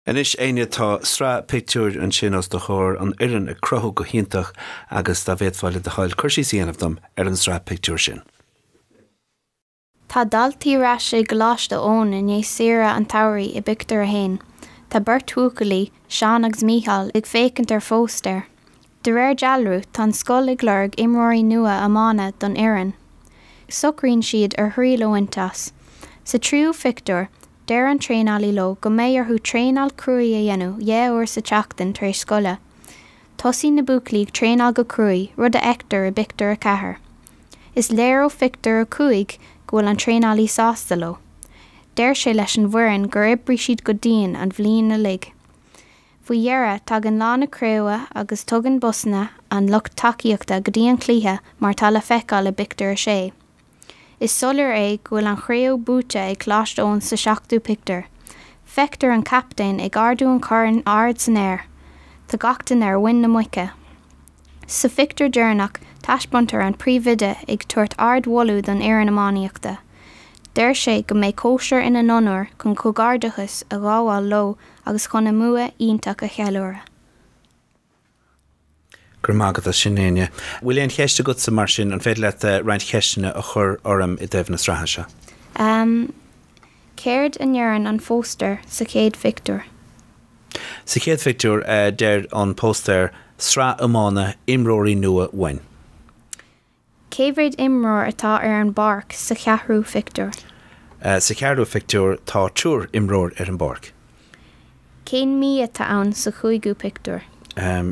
Anois Enya, tá sraith pictiúir ansin os do chomhair, an fhoireann ag cruthú go hiontach agus dá bhféadfá le do thoil cur síos a dhéanamh dom ar an tsraith pictiúir sin. Tá daltaí ar ais i gColáiste Eoin i ndiaidh saoire an tsamhraidh i bpictiúr a haon, tá beirt bhuachaillí, Seán agus Mícheál, ag féachaint ar phóstaer De réir dealraimh, tá an scoil ag lorg imreoirí nua iomána don fhoireann. Socraíonn siad ar thriail a bhaint as. Sa tríú phictiúr, deir an traenálaí leo go mbeidh orthu traenáil chrua a dhéanamh dhá uair sa tseachtain tar éis scoile. Tosaíonn na buachaillí ag traenáil go crua, rud a fheictear i bpictiúr a ceathair. Is léir ó phictiúr a cúig go bhfuil an traenálaí sásta leo. Deir sé leis an bhfoireann gur oibrigh siad go dian an bhliain uilig. Faoi dheireadh, tagann lá na craoibhe agus tugann busanna an lucht tacaíochta go dtí an cluiche mar atá le feiceáil i bpictiúr a sé. Is soiléir é go bhfuil an chraobh buaite ag Coláiste Eoin sa tseachtú pictiúr. Feictear an captaen ag ardú an choirn ard san aer. Tá gach duine ar mhuin na muice. Sa phictiúr deireanach, taispeántar an príomhoide ag tabhairt ard-mholadh don fhoireann iománaíochta. Deir sé go mbeidh cóisir ina n-onóir chun comhghairdeachas a ghabháil leo agus chun a mbua iontach a cheiliúradh. Go raibh maith agat as sin, Enya. Bhfuil aon cheist agatsa mar sin? An féidir leat roinnt ceisteanna a chur orm i dtaobh na sraithe seo? Em. Céard a ndeireann an phóstaer sa chéad phictiúr? Sa chéad phictiúr, deir an póstaer, Sraith iomána, imreoirí nua uainn. Cé mhéad imreoir atá ar an bpáirc sa cheathrú phictiúr? Sa cheathrú phictiúr, tá triúr imreoir ar an bpáirc. Cén mí atá ann sa chúigiú pictiúr?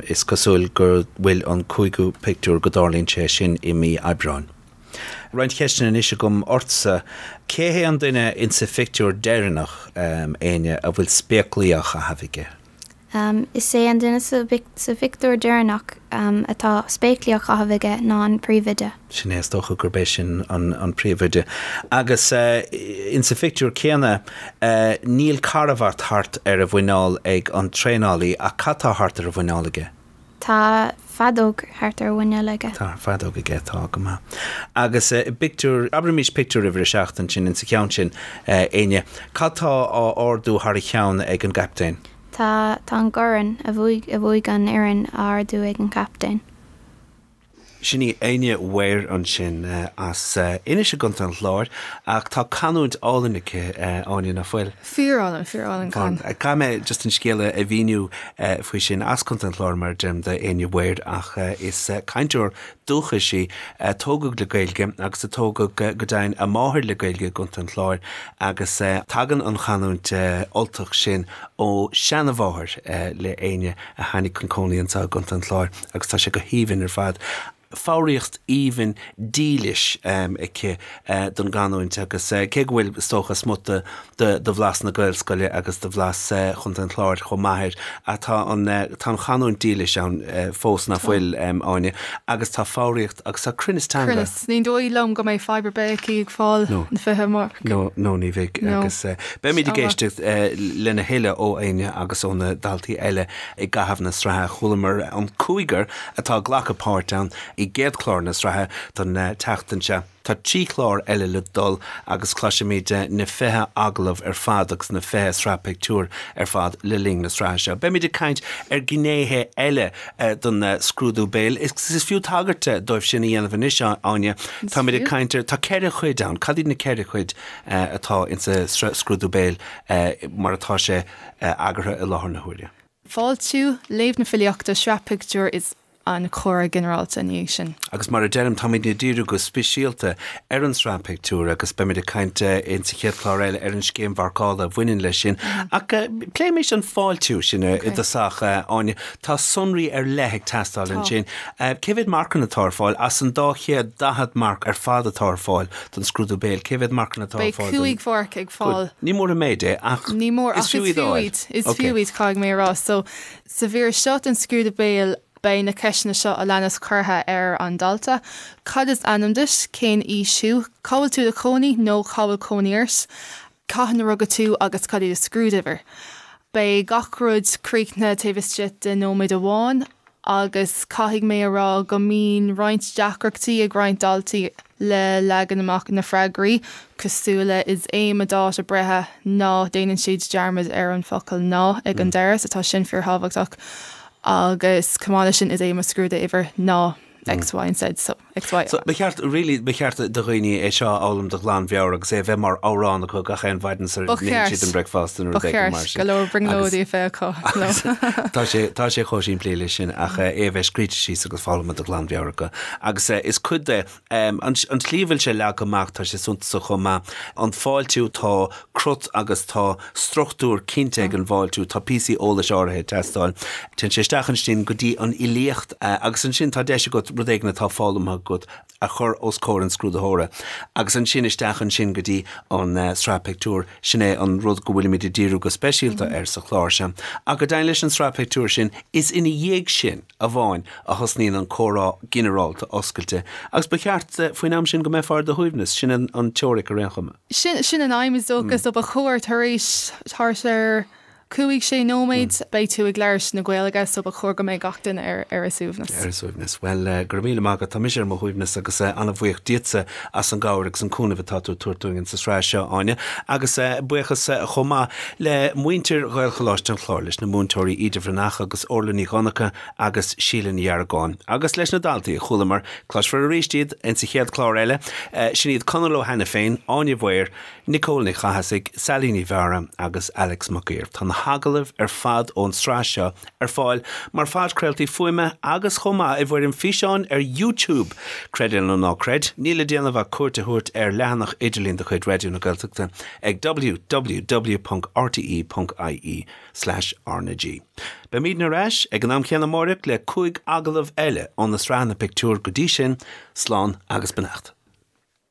Is cosúil go bhfuil an cúigiú pictiúr go dtarlaíonn sé sin i mí Aibreáin. Roinnt ceisteanna anois agam ortsa. Cé hé an duine insa phictiúr deireanach, Enya a bhfuil spéaclaí á chaitheamh aige? Is é an duine sa phictiúr deireanach atá spéaclaí á chaitheamh aige ná an príomhoide. Sin é, is dócha gurb é sin an príomhoide. Agus insa phictiúr céanna, níl carbhat thart ar a mhuineál ag an traenálaí, ach cad tá thart ar a mhuineál aige? Tá feadóg thart ar mhuineál aige. Tá feadóg aige, tá, go maith. Agus i bpictiúr, abraimís pictiúr uimhir a seacht ansin insa cheann sin, Enya, cad tá á ardú thar a cheann ag an gCaptaen? Tá, tá an gcorn a bhuaigh, a bhuaigh an fhoireann á ardú ag an gCaptaen. Sin í Enya Ware ansin as Inis i gContae an Chláir ach tá canúint álainn aici, Áine, ná fuil? Fíorálainn, fíorálainn, caithfidh mé. Caithfidh mé just an scéal a mhíniú faoi sin, as Contae an Chláir, mar a deirim, do Enya Ware ach is cainteoir dúchais í, a tógadh le Gaeilge agus a tógadh, go deimhin, a máthair le Gaeilge i gContae an Chláir agus tagann an chanúint Ultach sin ó sheanamháthair le Enya a tháinig chun cónaí anseo i gContae an Chláir. agus tá sé go haoibhinn ar fad. foghraíocht aoibhinn dílis aici don gcanúint agus cé go bhfuil, is dócha, smut de bhlas na Gaelscoile agus de bhlas Chontae an Chláir chomh maith air, tá an chanúint dílis ann fós, ná fuil, Áine? Agus tá foghraíocht agus tá cruinneas teanga. Cruinneas. Ní dóigh liom go mbeidh fadhb ar bith aici ag fáil an 20 marc. No, ní bheidh. Agus beimid ag éisteacht lena thuilleadh ó Áine agus ó na daltaí eile. I gcaitheamh na sraithe chualamar an cúigear atá ag glacadh páirt ann i gcéad chlár na sraithe don tseachtain seo. Tá trí chlár eile le dul agus cloisfimid na fiche agallamh ar fad agus na fiche sraith pictiúr ar fad le linn na sraithe seo. Beimid ag caint ar ghnéithe eile den scrúdú béil agus is fiú tagairt dóibh sin a dhéanamh anois, Áine. Is fiú. Táimid ag caint ar, tá ceithre chuid ann. Cad iad na ceithre chuid atá insa scrúdú béil mar atá sé? eagartha i láthair na huaire. Fáiltiú, léamh na filíochta, sraith pictiúr is an comhrá ginearálta ina dhiaidh sin. Agus mar a deirim, táimidne ag díriú go speisialta ar an tsraith pictiúr agus beimid ag caint insa chéad chlár eile ar an scéim mharcála a bhaineann leis sin. Ach pléimis an fáiltiú, sin i dtosach. Áine, tá sonraí ar leith ag teastáil ansin. Cé mhéad marcanna atá ar fáil as an dá chéad daichead marc ar fad atá ar fáil don scrúdú béil. Cé mhéad marcanna atá ar fáil don? Beidh 5 mharc ag fáil. Ní mór an méid é ach is fiú iad a fháil. Is fiú iad, caithfidh mé a rá. So sa mhír seo den scrúdú béil beidh na ceisteanna seo a leanas curtha ar an dalta, Cad is ainm duit? Cén aois thú? Cá bhfuil tú i do chónaí nó Cá bhfuil cónaí ort? Cathain a rugadh tú agus cad í do scrúduimhir? Beidh gach rud críochnaithe taobh istigh de nóiméad amháin agus caithfidh mé a rá go mbíonn roinnt deacrachtaí ag roinnt daltaí le leagan amach na freagraí, cosúil le is é mo dáta breithe ná. Déanann siad dearmad ar an focal ná ag an deireadh so tá sin fíorthábhachtach. Agus chomh maith leis sin is é mo scrúduimhir ná X, Y and Z so. So, ba cheart, really, ba cheart do dhaoine é seo a fhoghlaim de ghlanmheabhair agus é a bheith mar amhrán acu gach aon mhaidin sara n-itheann siad an bricfeasta nó rud éigin mar sin. Ba cheart. Ba cheart. Go leor brionglóidí a bheith acu. No. Tá sé, tá sé chomh simplí leis sin ach eh, é a bheith scríte síos agus foghlamtha de ghlanmheabhair acu. Agus eh, is cuid de, em, an, an tslí a bhfuil sé leagtha amach, tá sé suntasach chomh maith. An fáiltiú, tá crut agus tá struchtúr cinnte ag an bhfáiltiú, tá píosaí eolais áirithe ag teastáil. Téann sé isteach ansin go dtí an fhilíocht agus ansin tá deis agat rud éigin atá foghlamtha agat a chur os comhair an scrúdaitheora. Agus ansin isteach ansin go dtí an sraith pictiúr, sin é an rud go bhfuilimid ag díriú go speisialta air sa chlár seo. Ach go deimhin leis an sraith pictiúr sin, is ina dhiaidh sin amháin a thosnaíonn an comhrá ginearálta oscailte. Agus ba cheart faoin am sin go mbeifeá ar do shuaimhneas, sin an teoiric ar aon chuma. Sin sin an aidhm is dócha, so ba chóir tar éis, thart ar cúig, sé nóiméad beidh tú ag labhairt na Gaeilge so ba chóir go mbeidh gach duine ar ar a suaimhneas. Ar a suaimhneas. Bhuel, eh, go raibh míle maith agat, tá mise ar mo shuaimhneas agus eh an-bhuíoch díotsa as an gcabhair agus an cúnamh atá tú ag tabhairt dúinn insa sraith seo, Áine. Agus eh buíochas eh chomh maith le muintir Ghaelcholáiste an Chláir, leis na múinteoirí Íde Ní Mhuirithe agus Órla Ní Dhonnacha, agus Síle Ní Dheargáin. Agus leis na daltaí a chualamar, cloisfear arís iad insa chéad chlár eile. Sin iad Conall Ó hAiniféin, Áine Mhaoir, Nicole Ní Chathasaigh, Sally Ní Mheadhra agus Alex Mac Uidhir. Tá na hagallaimh ar fad ón tsraith seo ar fáil mar phodchraoltaí fuaime agus chomh maith i bhfoirm físeáin ar YouTube! Creid é nó ná creid, níl le déanamh ach cuairt a thabhairt ar leathanach idirlín de chuid Raidió na Gaeltachta ag www.rte.ie. Slash RnaG. Beimidne ar ais ag an am chéanna amárach le cúig agallamh eile óna sraitheanna pictiúr. Go dtí sin, slán agus beannacht.